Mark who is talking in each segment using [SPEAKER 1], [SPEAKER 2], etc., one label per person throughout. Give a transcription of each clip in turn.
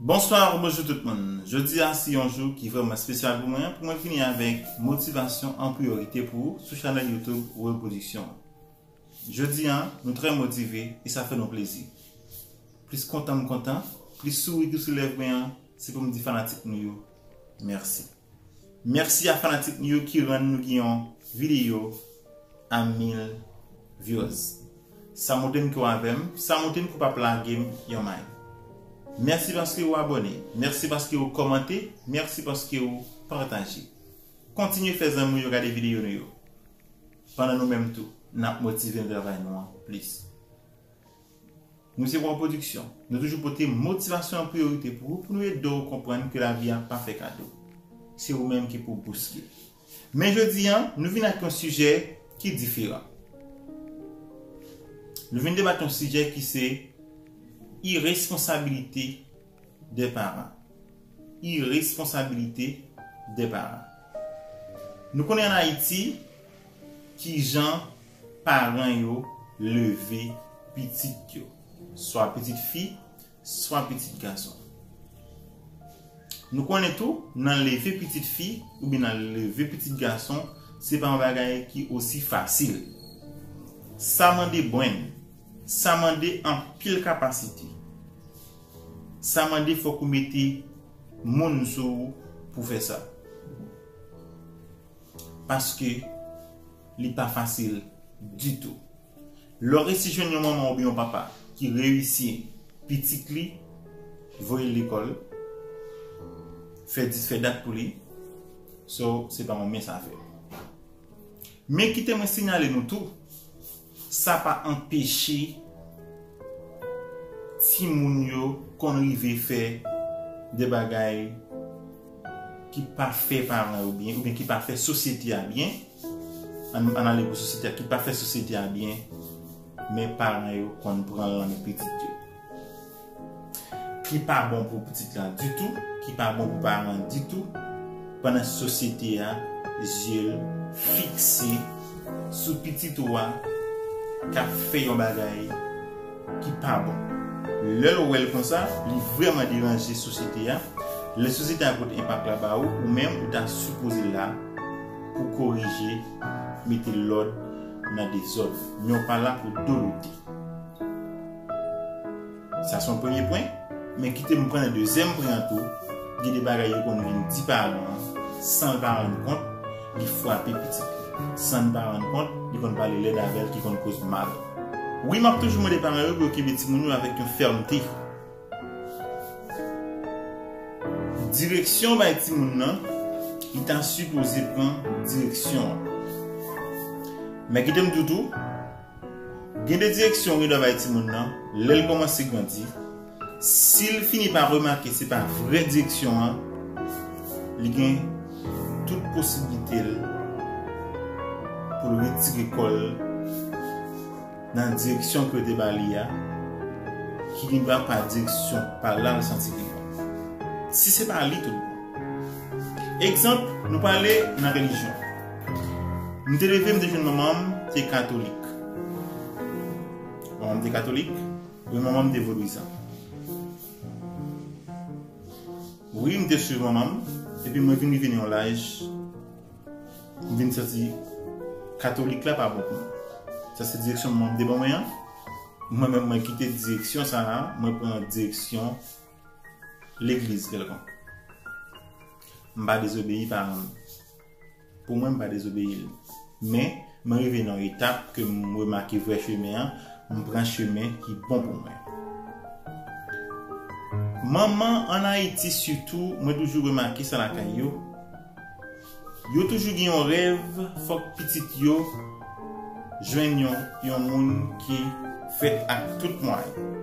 [SPEAKER 1] Bonsoir ou bonjou tout moun. Jodi a si yon jou ki vreman spesyal pou mwen, pou mwen fini avèk motivasyon an priyorite pou ou sou chanèl YouTube Reproduction. Jodi an, nou trè motive e sa fè nou plezi. Plis kontan m kontan, plis souri ki sou lèv mwen an, se pou m di fanatik nou yo mèsi. Mèsi a fanatik nou yo ki rann nou gen yon videyo a 1000 vyoz. Sa montre m ke w avè m, sa montre m ke w pa p lage m yon may. Mèsi paske ou abòne, mèsi paske ou kòmante, mèsi paske ou pataje. Kontinye fè zanmi w yo gade videyo nou yo. Pandan nou menm tou, n ap motive nan travay nou an plis. Nou se Waw Production, nou toujou pote motivasyon an priyorite pou ou pou nou ede w konprann ke lavi a pa fè kado. Se ou menm ki pou bouske. Men jodi an, nou vin ak yon sijè ki diferan. Nou vin debat yon sijè ki se iresponsabilite. de paran. Iresponsabilite de paran. Nou konnen an Ayiti ki jan paran yo leve pitit yo. Swa pitit fi, swa pitit gason. Nou konnen tou nan leve pitit fi ou byen nan leve pitit gason se pa yon bagay ki osi fasil. Sa mande brenn. Sa mande anpil kapasite. Sa mande fòk ou mete moun sou ou pou fè sa. Paske li pa fasil ditou. Lè w resi jwenn yon manman oubyen yon papa ki reyisi pitit li, voye l lekòl, fè dis fè dat pou li, so se pa yon mens afè. Men kite mwen sinyale nou tou. Sa pa anpeche timoun yo konn rive fè de bagay ki pa fè paran yo byen oubyen ki pa fè sosyete a byen, ann ale pou sosyete a, ki pa fè sosyete a byen, men paran yo konn pran l nan men pitit yo. ki pa bon pou pitit lan ditou, ki pa bon pou paran an ditou, pandan sosyete a zye l fikse sou pitit ou a k ap fè yon bagay ki pa bon. Lè l wè l konsa, li vrèman deranje sosyete a, lè sosyete a pot enpak la ba ou, ou menm ou ta sipoze la pou korije, mete lòd nan dezòd, men ou pa la pou dolote. Sa son premye pwen, men kite m pran nan dezyèm pwen an tou, gen de bagay yo konn vin di paran an san l pa rann kont li fwape pitit li. San l pa rann kont, li konn pale lèd avè l ki konn koz mal. Wi m ap toujou mande paran yo pou yo kenbe timoun yo avèk yon fèmte. Direksyon w bay timoun nan, li ta sipoze pran direksyon an. Men kite m di w tou. Gen de direksyon yo dwe bay timoun nan lè l kòmanse grandi, si l fini pa remake se pa vrè direksyon an, li gen tout posiblite l pou l retire kò l nan direksyon ke yo te ba li a, ki gen dwa pa direksyon pa la l santi li bon. Si se pa li tout bon. Egzanp, nou pale nan relijyon. M te leve m te jwenn manman m te katolik. Manman m te katolik? Wi manman m te vodouizan. Wi m te swiv manman m epi mwen vin rive nan yon laj m vin santi katolik la pa bon pou mwen. Sa se direksyon manman m te ban mwen an. Mwen menm mwen kite direksyon sa a, mwen pran direksyon legliz kèlkonk. M pa dezobeyi paran m. Pou mwen m pa dezobeyi l. Men, mwen rive nan yon etap ke m remake vrè chemen an, m pran chemen ki bon pou mwen. Manman, an Ayiti sitou, mwen toujou remake sa lakay yo, yo toujou gen yon rèv fòk pitit yo jwenn yon moun ki fèt ak tout mwayen.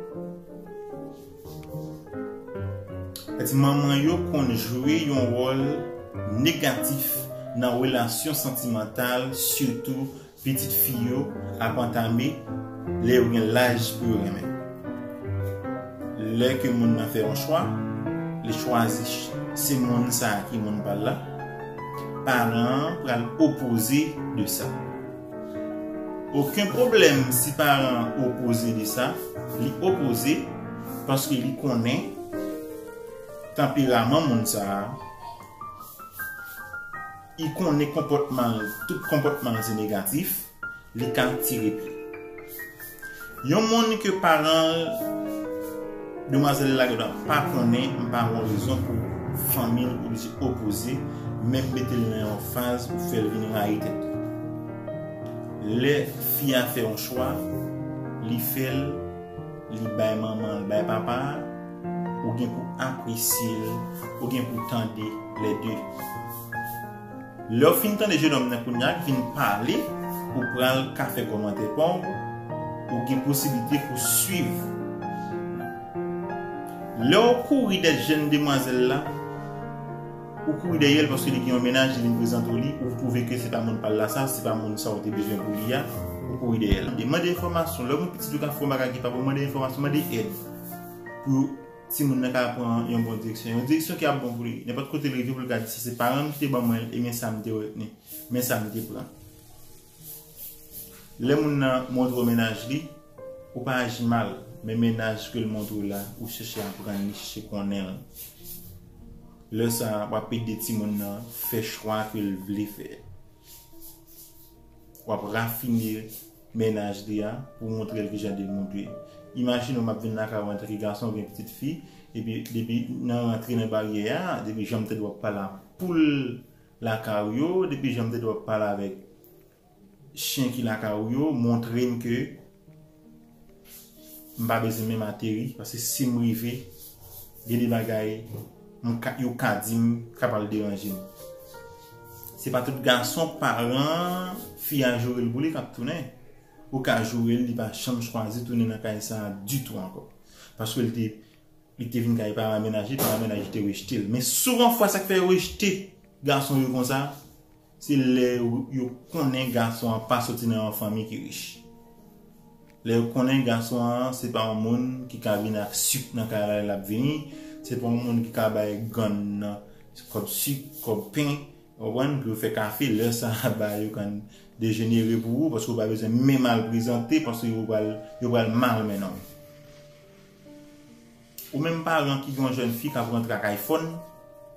[SPEAKER 1] Èske manman yo konn jwe yon wòl negatif nan relasyon santimantal sitou pitit fi yo ap antame lè yo gen laj pou yo renmen? Lè ke moun nan fè yon chwa, li chwazi se moun sa ki moun pa l la, paran an pral opoze de sa. Oken pwoblèm si paran an opoze de sa, li opoze paske li konnen tanperaman moun sa a, i konnen konpòtman l, tout konpòtman l se negatif, li ka tire pye. Yon moun ke paran demwazèl la gen dwa pa konnen m pa wè yon rezon pou fanmi l oblije opoze, menm mete l nan yon faz pou fè l vin rayi tèt li. Lè fi a fè yon chwa, li fè l, li bay manman l, bay papa a, ou gen pou apresye l, ou gen pou tande lè de. Lèw fin tande jenòm nan kounya ki vin pale ou pral ka fè kòmantè paw ou gen posiblite pou swiv lèw kouri dèt jèn demwazèl la ou kouri dèyèl paske li gen yon mennaj li vin prezante w li ou twouve ke se pa moun pal la sa se pa moun sa ou te bezwen pou li a ou kouri dèyèl mande enfòmasyon lèw gen pitit ou ka fè yon bagay ki pa bon mande enfòmasyon mande èd pou timoun nan ka pran yon bon direksyon, yon direksyon ki ap bon pou li. Nenpòt kote l rive pou l ka di si se paran m ki te ban mwen l, ebyen sa m te retni, men sa m te pran. Lè moun nan montre w mennaj li, ou pa aji mal, men mennaj ke l montre w la, ou chèche aprann li, chèche konnen l. Lè sa a, w ap ede timoun nan fè chwa ke l vle fè. W ap rafine. Mennaj li a pou montre l kijan de moun dwe. Imajine w m ap vin lakay w antanke gason gen pitit fi epi depi nan rantre nan baryè a depi jan m tèt w ap pale ak poul lakay w yo depi jan m tèt w ap pale avèk chen ki lakay w yo montre m ke M pa bezwen menm ateri paske sim rive gen de bagay yo ka dim ka pral deranje m. Se pa tout gason paran fi a joure l pou li kap tounen. Ou ka joure l li pa janm chwazi tounen nan kay sa ditou ankò. Paske l te li te vin kay paran menaj li, paran menaj li te rejte l. Men souvan fwa sak fè yo rejte gason yo konsa. Se lè yo konnen gason an pa soti nan yon fanmi ki rich. Lè yo konnen gason an se pa yon moun ki ka vin ak sik nan kay la lè l ap vini, se pa yon moun ki ka bay gann nan kòb sik, kòb pen, ou konprann, pou yo fè kafe, lè sa a ba yo kann dejenere pou ou paske ou pa bezwen menm al prezante paske yo pral mal mennen w. Ou menm paran ki gen yon jèn fi kap rantre ak iPhone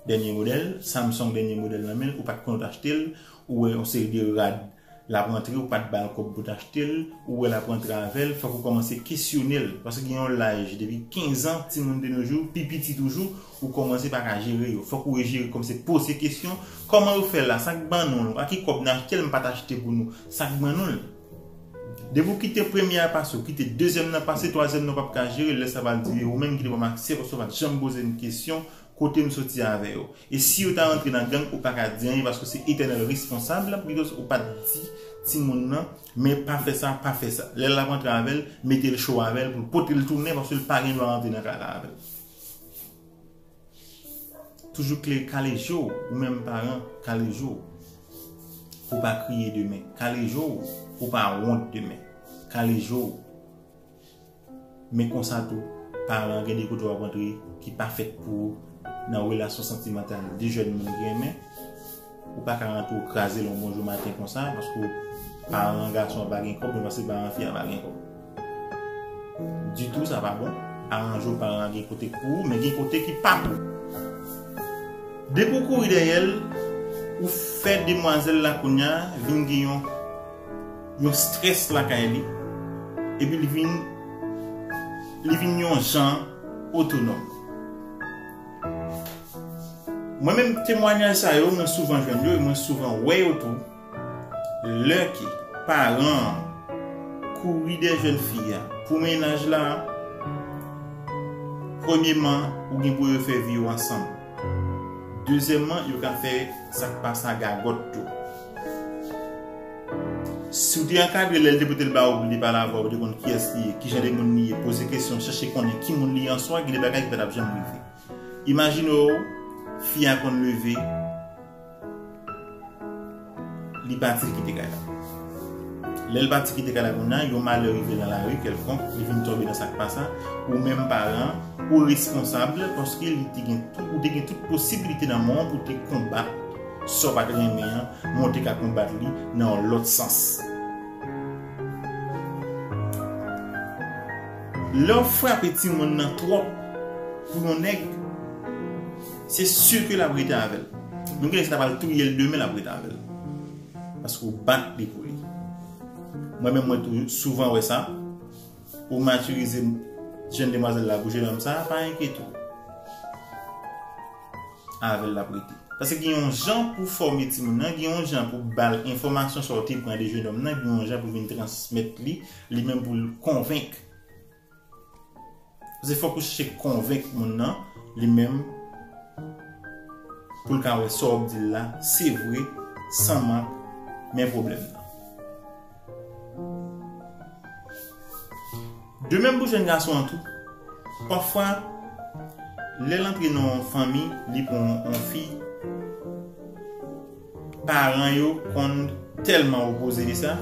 [SPEAKER 1] dènye modèl, Samsung dènye modèl nan menl ou pat konnen ou t achtel, ou wè yon seri de rad lap rantre ou pat bal kòb pou t achtel, ou wè lap rantre avèl fòk ou kòmanse kesyonel paske gen yon laj depi 15 ans timoun de nos jours pi piti toujou ou kòmanse paka jere yo fòk ou rejere kòmnse poze kesyon kòman yo fèl la sak ban nou l ak ki kòb n achtel m pat achte pou nou sak ban nou l. Depi ou kite premye a pase ou kite dezyèm nan pase twazyèm nan ou pap ka jere lè sa pral di yo menm ki te banm aksè paske ou pat janm pozem kesyon kotem soti avè yo e si yo ta rantre nan gang ou paka di anyen paske ou se etènèl responsab because ou pat di timoun nan men pa fè sa pa fè sa lè lap rantre avèl metel cho avèl poul potel tounen paske li pa gen dwa rantre nan kay la avèl. Toujou kle kale je w ou menm paran kale je w pou w pa kriye demen kale je w pou w pa wont demen kale je w men konsa tou paran gen de kote w ap antre ki pa fèt pou ou nan relasyon santimantal de jèn moun ki renmen. Ou pa ka rantre ou kraze l yon bonjou maten konsa paske paran gason an pa gen kòb mwen panse paran fi a pa gen kòb ditou sa pa bon aranje w paran an gen kote k pou ou men gen kote ki pa pou ou depi w kouri dèyè l ou fè demwazèl la kounya vin gen yon yon strès lakay li epi li vin li vin yon jan otonòm. Mwen menm temwanyaj sa yo mwen souvan jwenn yo e mwen souvan wè yo tou lè ke paran an kouri dèyè jèn fi a pou mennaj la premyeman ou gen pou refè vi yo ansanm dezyèmman yo ka fè sak pa sa gagòt tou. Si w te ankadre lè l te pote l ba ou pou li pale avè w, ou te konn kiyès li ye, kijan de moun li ye, poze kesyon, chèche konnen ki moun li ye answa, gen de bagay ki pa t ap janm rive. Imajine w, fi a konn leve, li pati li kite kay la. Lè l pati kite kay la kounye a, yon malè rive nan lari kèlkonk, li vin tonbe nan sa k pa sa, ou menm paran, ou responsab paske li te gen, ou te gen tout posiblite nan men w pou te konbat. Sa w pa t renmen an, mwen te ka konbat li nan yon lòt sans. Lè w frape timoun nan twòp pou yon nèg, se si ke l ap rete avè l. Menm ke si ta pral touye l demen, l ap rete avè l. Paske ou bat li pou li. Mwen menm mwen tou souvan wè sa. Ou matirize jenn demwazèl la pou jenòm sa, pa enkete w. avèl lap rete. Paske gen yon jan pou fòme timoun nan, gen yon jan pou bal enfòmasyon sa ou te pran de jenòm nan, gen yon jan pou vin transmèt li, li menm poul konvenk. Paske fòk ou chèche konvenk moun nan, li menm poul ka wè sa wap dil la se vre, san mank, men pwoblèm nan. De menm pou jèn gason an tou. Pafwa, lè l antre nan yon fanmi, li pran yon fi, paran yo konn tèlman opoze de sa,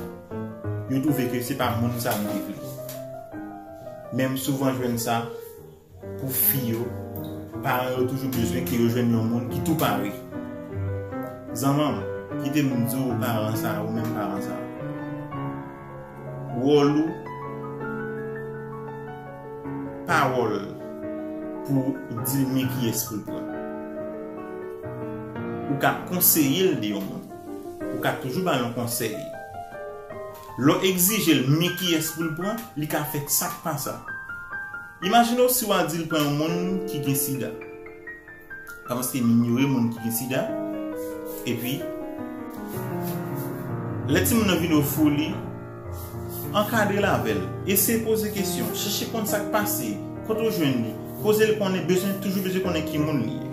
[SPEAKER 1] yo twouve ke se pa moun sa yo te vle. Men m souvan jwenn sa. Pou fi yo, paran yo toujou bezwen ke yo jwenn yon moun ki tou pare. Zanmanm, kite m di w paran sa, ou menm paran sa, wòl ou pa wòl pou w di l men kiyès pou l pran. Ou ka konseye l de yon moun. Ou ka toujou ba l yon konsèy. Lè w egzije l men kiyès pou l pran, li ka fè sa k pa sa. Imajine w si w adil pran yon moun ki gen sida. Pa paske m inyore moun ki gen sida. Epi, lè timoun nan vin ofri w li, ankadre l avè l. Eseye poze kesyon. Chèche konn sa k pase. Kote w jwenn li. Koze l konnen bezwen, toujou bezwen konnen ki moun li ye.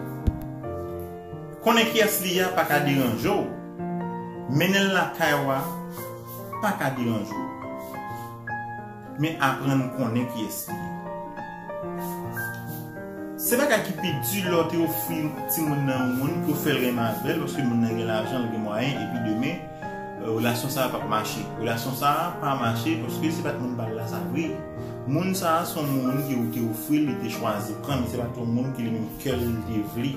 [SPEAKER 1] Konnen kiyès li ye a pa ka deranje w. Mennen l lakay w a pa ka deranje w. Men aprann konnen kiyès li ye. Se bagay ki pi di lè w te ofri timoun nan yon moun pou w fè l renmen avè l paske moun nan gen lajan, l gen mwayen epi demen relasyon sa a pap mache. Relasyon sa a pa mache paske se pa t moun pa l la sa vre. Moun sa a se yon moun ke ou te ofri l, li te chwazi pran l, se pa t yon moun ke li menm kè l te vle.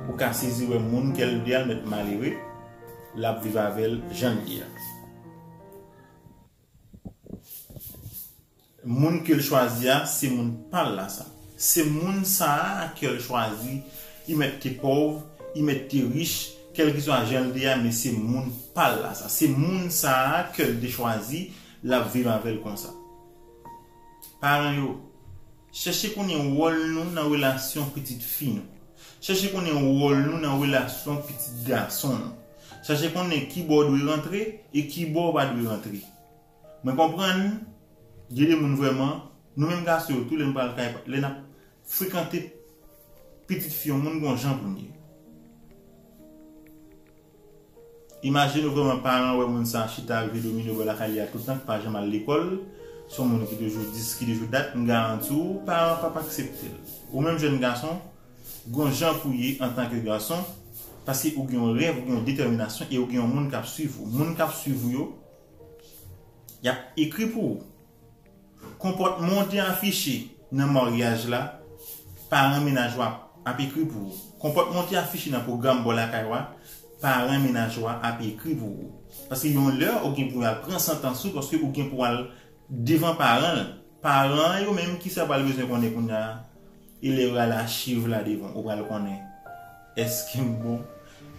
[SPEAKER 1] Ou ka sezi wè moun kè l vle a l mèt malere, l ap viv avè l jan l ye a. Moun kel chwazi a se moun pal la sa. Se moun sa a kel chwazi i mèt te pòv, i mèt te rich, kèlkeswa janl te a men se moun pal la sa. Se moun sa a kel te chwazi lap viv avèl konsa. Paran yo. Chèche konnen wòl nou nan relasyon pitit fi nou. Chèche konnen wòl nou nan relasyon pitit gason nou. Chèche konnen kibò w dwe rantre e kibò w pa dwe rantre. Mwen konprann gen de moun vrèman, nou menm gason yo tou lè n pral kay, lè n ap frekante pitit fi yon moun gen yon jan pou n ye. Imajine ou vreman paran wè moun sa chita rive domine bò lakay li a toutan ki pa janm al lekòl, se yon moun ki toujou dis ki toujou dat, m garanti w paran an pap aksepte l. Ou menm jèn gason, gon jan pou ye antanke gason, paske ou gen yon rèv, ou gen yon detèminasyon e ou gen yon moun k ap swiv ou. Moun k ap swiv ou yo, y ap ekri pou ou. Konpòtman w te afiche nan maryaj la, paran mennaj w ap ekri pou ou. Konpòtman w te afiche nan pwogram bò lakay w a, paran mennaj w ap ekri pou ou. Paske yon lè, ou gen pou y al pran santans ou paske ou gen pou al devan paran l. Paran an yo menm, kisa yo pral bezwen konnen kounya a? E lè yo rale achiv la devan w, ou pral konnen èske m bon,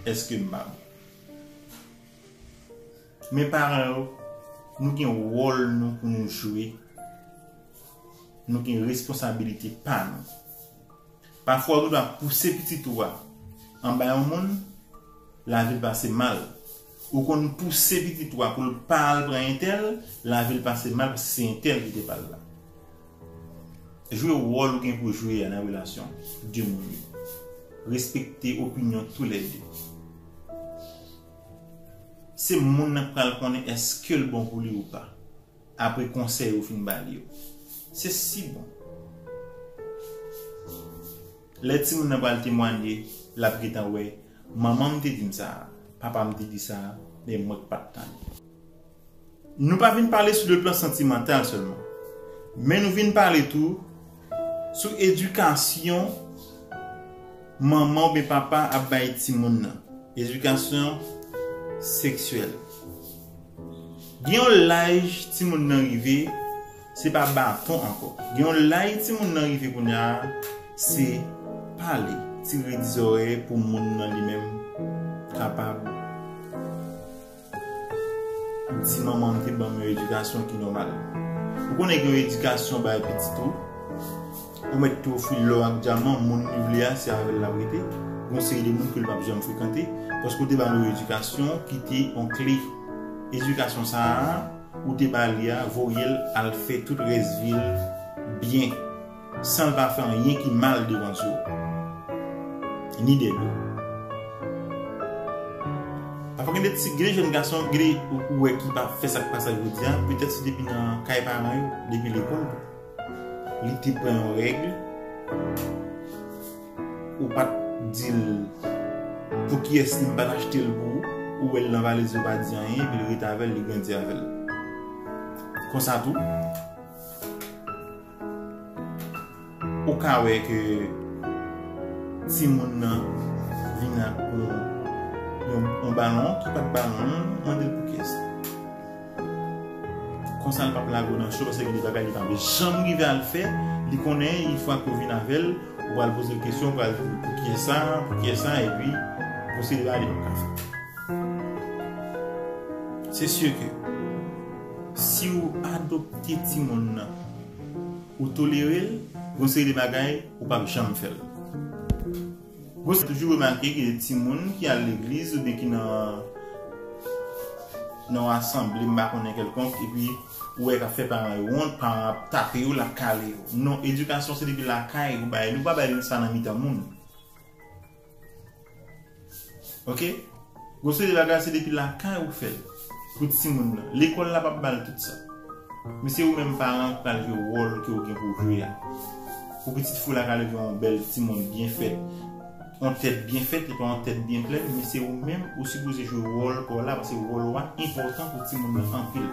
[SPEAKER 1] èske m pa bon. Men paran yo, nou gen wòl nou pou nou jwe, nou gen responsabilite pa nou. Pafwa ou dwa pouse pitit ou a anba yon moun, lavi l pase mal. Ou konn pouse pitit ou a pou l pa al pran entèl, lavi l pase mal paske se entèl ki te ba l la. Jwe wòl ou gen pou jwe a nan relasyon 2 moun yo. Respekte opinyon tou lè 2. Se moun nan k pral konnen èske l bon pou li ou pa, apre konsèy ou fin ba li yo. Se si bon! Lè timoun nan pral temwanye, l ap gentan wè, Manman m te di m sa a, papa m te di sa a, men mwen k pa t tande. Nou pa vin pale sou le plan santimantal sèlman, men nou vin pale tou sou edikasyon manman oubyen papa ap bay timoun nan, edikasyon seksyèl. Gen yon laj timoun nan rive, se pa baton ankò. Gen yon laj timoun nan rive kounya, se pale, tire di zorèy pou moun nan li menm kapab. Si manman m te ban m yon edikasyon ki nòmal. Ou konnen gen yon edikasyon bay pitit ou, ou mèt tou ofri l lò ak dyaman, moun li vle a se avè l l ap rete, gen yon seri de moun ke l p ap janm frekante, paske ou te ba l yon edikasyon ki te yon kle. Edikasyon sa a ou te ba li a voye l al fè tout rès vi l byen. San l pa fè anyen ki mal devan Dye w, ni dèyè do w. Pafwa gen de ti, gen de jèn gason, gen de ou wè ki pa fè sa k pa sa jodi a, petèt se depi nan kay paran yo, depi lekòl tou. Li te pran yon règ, ou pa t di l pou kiyès li, m pa t achte l pou ou, ou wè l nan valiz li, ou pa di anyen, epi l rete avè l, li grandi avè l. Konsa tou. Ou ka wè ke timoun nan vin ak yon balon ki pat balon an, mande l pou kiyès li. Konsa l pap lage w nan cho paske gen de bagay li pa vle janm rive al fè, li konnen yon fwa ke w vin avè l, ou pral poze l kesyon, ou pral di l pou kiyès sa, pou kiyès sa epi pwosedi la li pap ka fèt. Se si ke. Siw adopte timoun nan ou tolerel gon seri de bagay ou pap janm fèl. Gon toujou remake ke timoun ki al legliz oubyen ki nan nan yon asanble m pa konnen kèlkonk epi ou wè kap fè paran yo wont, paran an ap tape yo lap kale yo. Non edikasyon se depi lakay ou bay li ou pa bay li sa nan mitan moun. Ok Gon seri bagay se depi lakay ou fèl pou timoun nan lekòl la pap bal tout sa men se ou menm paran ki pral jwe wòl ke ou gen pou jwe a pou pitit fi w la ka leve yon bèl timoun byen fèt yon tèt byen fèt epi yon tèt byen plèn men se ou menm ou sipoze jwe wòl pa w la paske wòl ou a enpòtan pou timoun nan anpil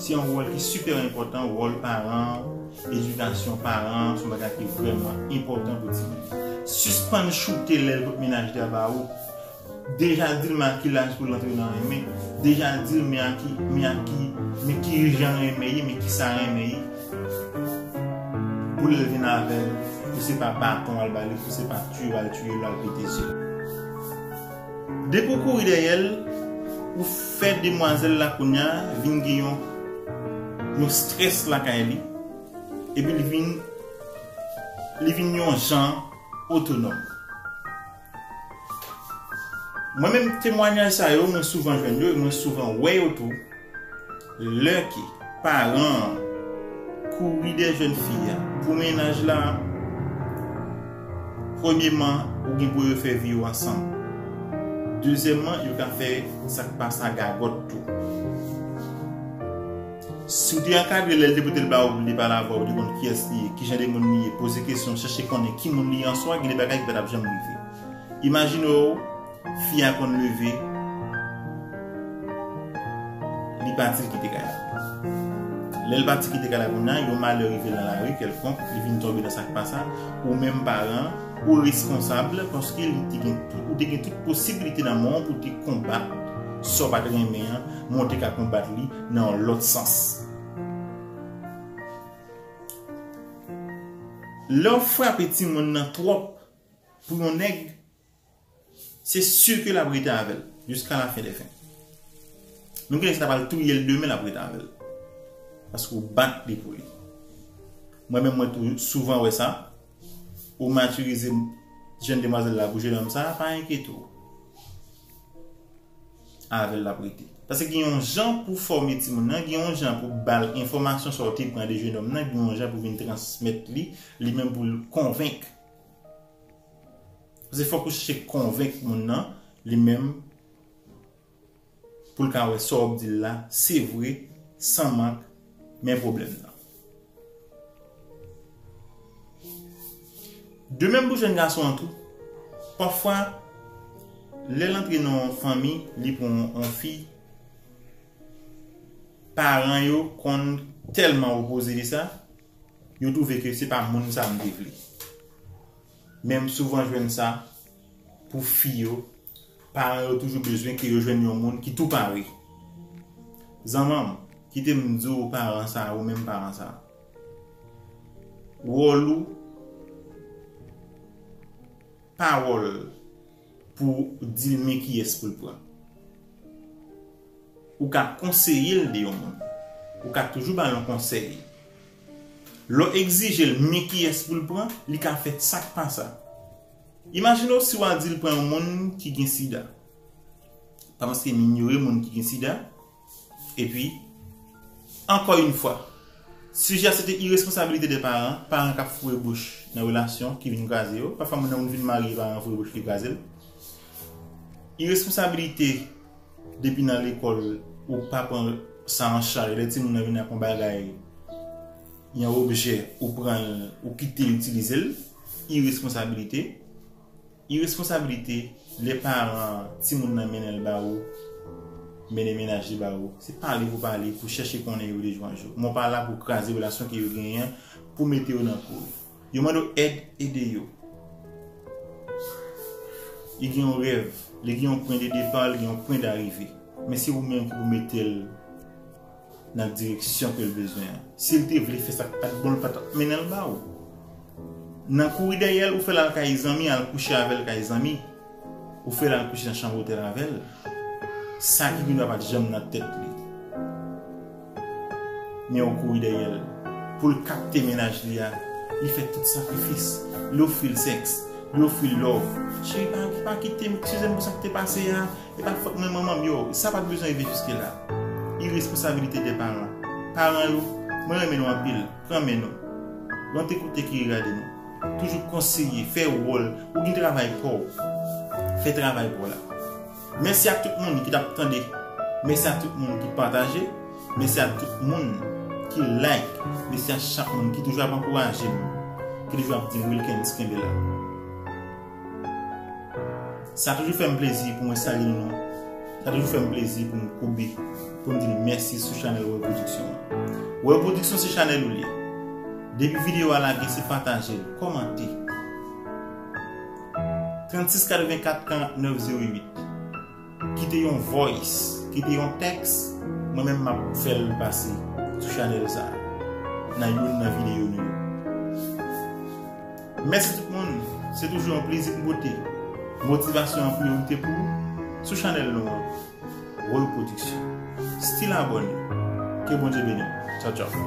[SPEAKER 1] se yon wòl ki sipè enpòtan wòl paran Edikasyon paran son bagay ki vrèman enpòtan pou timoun. Sispann choute lèl kot mennaj li a ba ou. Deja dil men a ki laj poul antre nan renmen, deja dil men a ki, men a ki, men ki jan renmen ye, men kisa renmen ye. Pou lèl vin avèl, pou se pa baton wal bali, pou se pa tiyo wal tiyo lal pete zyel. Depi w kouri dèyè l, ou fè demwazèl la kounya vin gen yon yon strès lakay li, epi li vin li vin yon jan otonòm. Mwen menm temwanyaj sa yo mwen souvan jwenn yo e mwen souvan wè yo tou. Lè ke paran an kouri dèyè jèn fi a pou mennaj la, premyeman, ou gen pou refè vi yo ansanm. Dezyèmman, yo ka fè sa k pa sa gagòt tou. Si w te ankadre l lè l te pote l ba ou pou l te pale avè w, ou te konn kiyès li ye, kijan de moun li ye, poze kesyon, chèche konnen ki moun li ye answa, gen de bagay ki pa t ap janm rive. Imajine w. Fi a konn leve Li pati li kite kay la Lè l pati kite kay la kounya yon malè rive nan lari kèlkonk li vin tonbe nan sa k pa sa Ou menm paran ou responsab paske li te gen tout ou te gen tout posiblite nan men w pou w te konbat sa w pa t renmen an men w te ka konbat li nan yon lòt sans Lè w frape timoun nan twòp pou yon nèg Se sur ke lap rete avèl jiska la fin de fin. Nou gen lè sa ta pral touyel demen lap rete avèl. Paske ou bat li pou li. Mwen menm mwen tou souvan wè sa. Ou matirize jenn demwazèl la pou jenòm sa, pa enkyete w. Avèl lap rete. Paske gen yon jan pou fòme timoun nan, gen yon jan pou bal enfòmasyon sa ou te pran de jenòm nan, gen yon jan pou vin transmèt li, li menm pou l konvenk. Paske fòk ou chèche konvenk moun nan li menm pou l ka wè sa w ap di l la se vre san mank men pwoblèm nan. De menm pou jèn gason an tou. Pafwa lè l antre nan yon fanmi li pran yon fi paran yo konn tèlman opoze li sa. Yo twouve ke se pa moun sa m te vle. Men m souvan jwenn sa pou fi yo, paran yo toujou bezwen ke yo jwenn yon moun ki tou pare. Zanman m, kite m di w paran sa, ou menm paran sa, wòl ou pa wòl. Pou dil men kiyès poul pran. Ou ka konseyel de yon moun. Ou ka toujou bal yon konsèy. Lèw egzijel men kiyès poul pran, li ka fè sak pa sa. Imajinew si wa dil pran yon moun ki gen sida. Pa paske m inyore moun ki gen sida. Epi, ankò yn fwa, sijè a se te iresponsabilite 2 paran, paran kap foure bouch nan relasyon ki vin kraze yo, pafwa moun nan moun vin marye paran an foure bouch li kraze l. Iresponsabilite depi nan lekòl ou pa pran sa an chaj, lè timoun nan vin ak yon bagay, yon objè ou pran l ou kite l itilize l, iresponsabilite. Iresponsabilite lè paran timoun nan mennen l ba ou, mennen mennaj li ba ou, se pale pou pale, pou chèche konnen yo dejwanjou. Mwen pa la pou kraze relasyon ke yo genyen, pou mete yo nan kou. Yo mande w èd, ede yo. Li gen yon rèv, li gen yon pwen de depa, li gen yon pwen darive. Men se ou menm ki pou mete l. nan direksyon ke l bezwen an. Si l te vle fè sa k pa t bon, l pa t ap mennen l ba ou. Nan kouri dèyè l, ou fè l al kay zanmi, al kouche avè l kay zanmi. Ou fè l al kouche nan chanm otèl avè l. Sa ki pi nwa pa t janm nan tèt li. Men ou kouri dèyè l. Pou l kapte mennaj li a, li fè tout sakrifis. Li ofri l sèks. Li ofri l love. Cheri pa kite m, eskize m pou sa k te pase a. E pa fòt mwen manmanm yo, sa pat bezwen rive jiske la. Iresponsabilite de paran. Paran yo, mwen renmen nou anpil, pran men nou. Lè w te koute ki regade nou. Toujou konseye, fè wòl, ou gin travay pa w. Fè travay pa w la. Mèsi ak tout moun ki tap tande, mèsi ak tout moun ki pataje, mèsi ak tout moun ki like, mèsi ak chak moun ki toujou ap ankouraje m, ki toujou ap di Wilkens kenbe la. Sa toujou fèm plezi pou mwen salye nou nou. Sa toujou fèm plezi pou m koube pou m di nou mèsi sou chanèl Woyy Production an. Woyy Production se chanèl ou li. Depi videyo a lage se pataje l, kòmante. 36 84 49 08 Kite yon voice, kite yon text, mwen menm map fèl pase sou chanèl sa nan youn nan video nou yo. Mèsi tout moun, se toujou yon plezi pou m pote motivasyon an priyorite pou ou sou chanèl nou an Rol Production. Still abone, ke Bondye beni w. Tchaw tchaw.